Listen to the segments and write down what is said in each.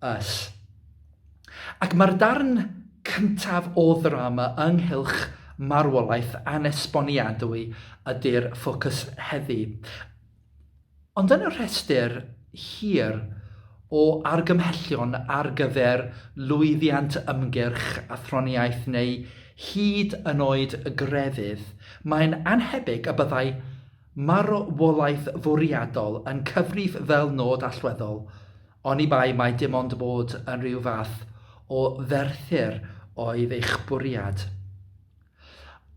Us. Ac mae'r darn cyntaf o ddrama ynghylch marwolaeth anesboniadwy ydy'r ffocws heddi. Ond yn y rhestr hir o argymhellion ar gyfer lwyddiant ymgyrch athroniaeth neu hyd yn oed grefydd, mae'n annhebyg y byddai marwolaeth fwriadol yn cyfrif fel nod allweddol Oni bai mai dim ond bod yn rhyw fath o ferthyr oedd eich bwriad.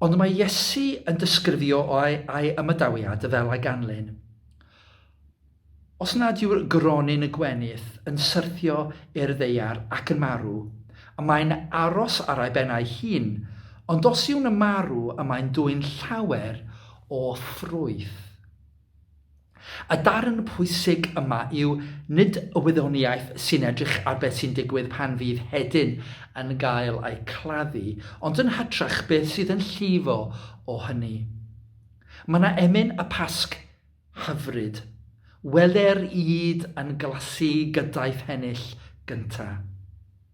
Ond mae Iesu yn dysgrifio o'i ai ymadawiad y fel a ganlyn. Os nad yw'r gronyn y gwenith yn syrthio i'r ddeiar ac yn marw, y mae'n aros ar ei ben ei hun, ond os yw'n y marw y mae'n dwyn llawer o ffrwyth. Y darn pwysig yma yw nid y wyddoniaeth sy'n edrych ar beth sy'n digwydd pan fydd hedyn yn gael eu claddu, ond yn hytrach beth sydd yn llifo o hynny. Mae yna emyn y Pasg hyfryd. Wele'r ŷd yn glasu gyda'i phennill gynta'.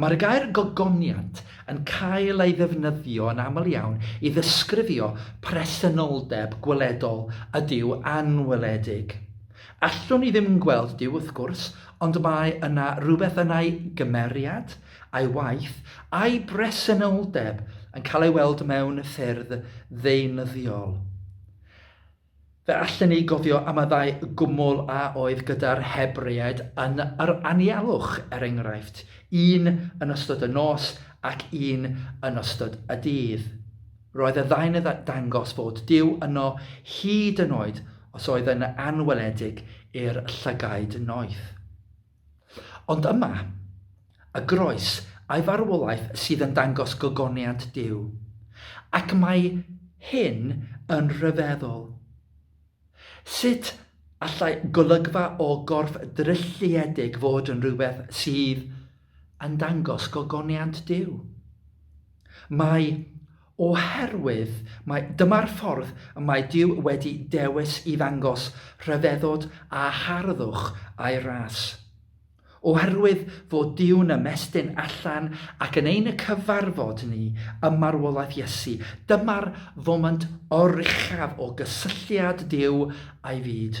Mae'r gair gogoniant yn cael ei ddefnyddio yn aml iawn i ddysgrifio presenoldeb gweledol ydyw anweledig. Allwn ni ddim gweld Duw, wrth gwrs, ond mae yna rywbeth yn ei gymeriad, ei waith, a'i bresenoldeb yn cael ei weld mewn ffyrdd ddeunyddiol. Fe allen ni gofio am y ddau gwmwl a oedd gyda'r Hebreaid yn yr anialwch, er enghraifft, un yn ystod y nos ac un yn ystod y dydd. Roedd y ddau'n dangos fod Duw yno hyd yn oed os oedd yn anweledig i'r llygaid noeth. Ond yma, y groes a'i farwolaeth sydd yn dangos gogoniant Duw. Ac mae hyn yn rhyfeddol. Sut allai golygfa o gorff drylliedig fod yn rhywbeth sydd yn dangos gogoniant Duw? Mae Oherwydd mai dyma'r ffordd y mae Duw wedi dewis i ddangos rhyfeddod a harddwch a'i ras. Oherwydd fod Duw'n ymestyn allan ac yn ein cyfarfod ni ym marwolaeth Iesu, dyma'r foment oruchaf o gysylltiad Duw a'i fyd.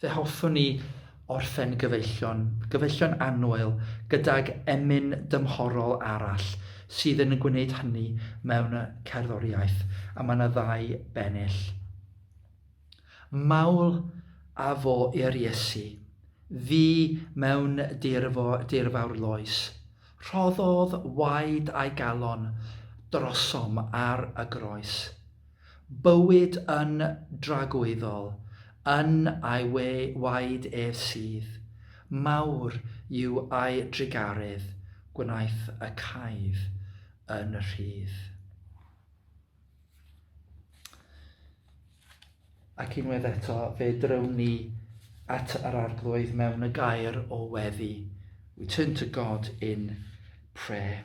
Fe hoffwn ni orffen gyfeillion, gyfeillion annwyl, gydag emyn dymhorol arall sydd yn gwneud hynny mewn cerddoriaeth, a mae yna ddau bennill. Mawl a fo i'r Iesu, fu mewn dirfo, dirfawr loes. Rhoddodd waed a'i galon drosom ar y groes. Bywyd yn dragwyddol yn ei we waed ef sydd, mawr yw ei drugaredd, gwnaeth y caedd yn rhydd. Ac unwaith eto, fe drywn ni at yr arglwydd mewn y gair o weddi. We turn to God in prayer.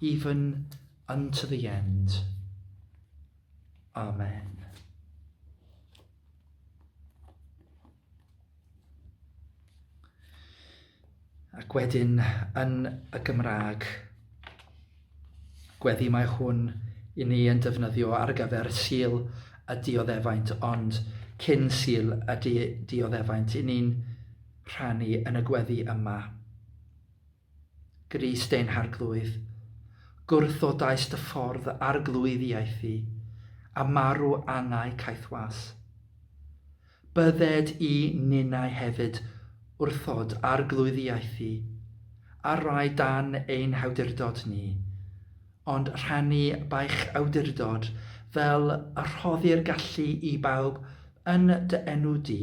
Even unto the end. Amen. Ac wedyn yn y Gymraeg, gweddi mae hwn i ni yn defnyddio ar gyfer sil y dioddefaint, ond cyn sil y di dioddefaint, i ni'n rhannu yn y gweddi yma. Grist ein harglwydd. Gwrthodaist dy ffordd arglwydd i aethu, a marw angau caethwas. Bydded i ninnau hefyd wrthod arglwydd i aethu, ar rai dan ein hawdurdod ni, ond rhannu b'eich awdurdod fel y rhoddir gallu i bawb yn dy enw di.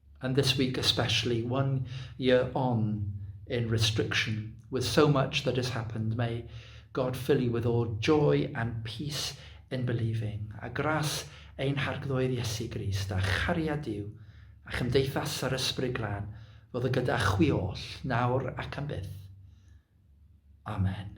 And this week especially, one year on in restriction, with so much that has happened, may God fill you with all joy and peace in believing. A gras ein harglwydd Iesu Grist, a chariad Dyw, a chymdeithas yr ysbryd glân, fod y gyda chwi oll, nawr ac am byth. Amen.